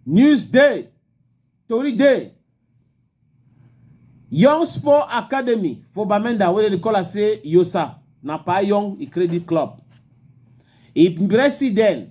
News Day, Tori Day, Young Sport Academy for Bamenda, where they call us say Yosa, na pa Young Credit Club. Im president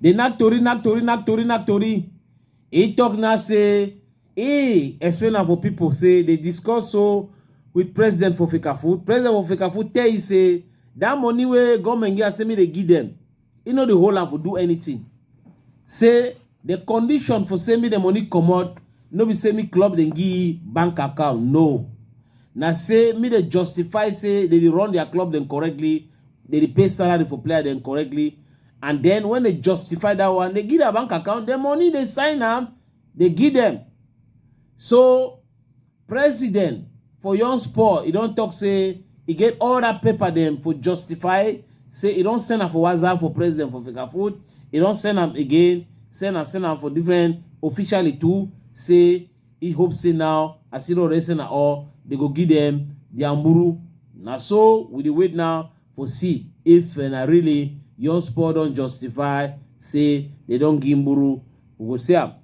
dey knack tori knack tori knack tori knack tori e tok now say e explain am for pipo say dey discuss so with president for fikafood president for fikafood tell e say dat money wey goment give am say make dey give dem e no dey hold am for do anything say The condition for say me the money comot no be say me club dem give bank account no na say me dey justify say they dey run their club dem correctly they dey pay salary for player dem correctly and then when they justify that one they give their bank account the money they sign am they give them so President for Yon Sport, he don talk say he get all that paper them for justify say he don send am for WhatsApp for president for Fika Food. He don send am again, send am, send am for different officially too. Say he hope say now as he don already send am all, they go give them their muru. Na so we dey wait now for see if uh, na really Yon Sport don justify say they don give muru. We go see am.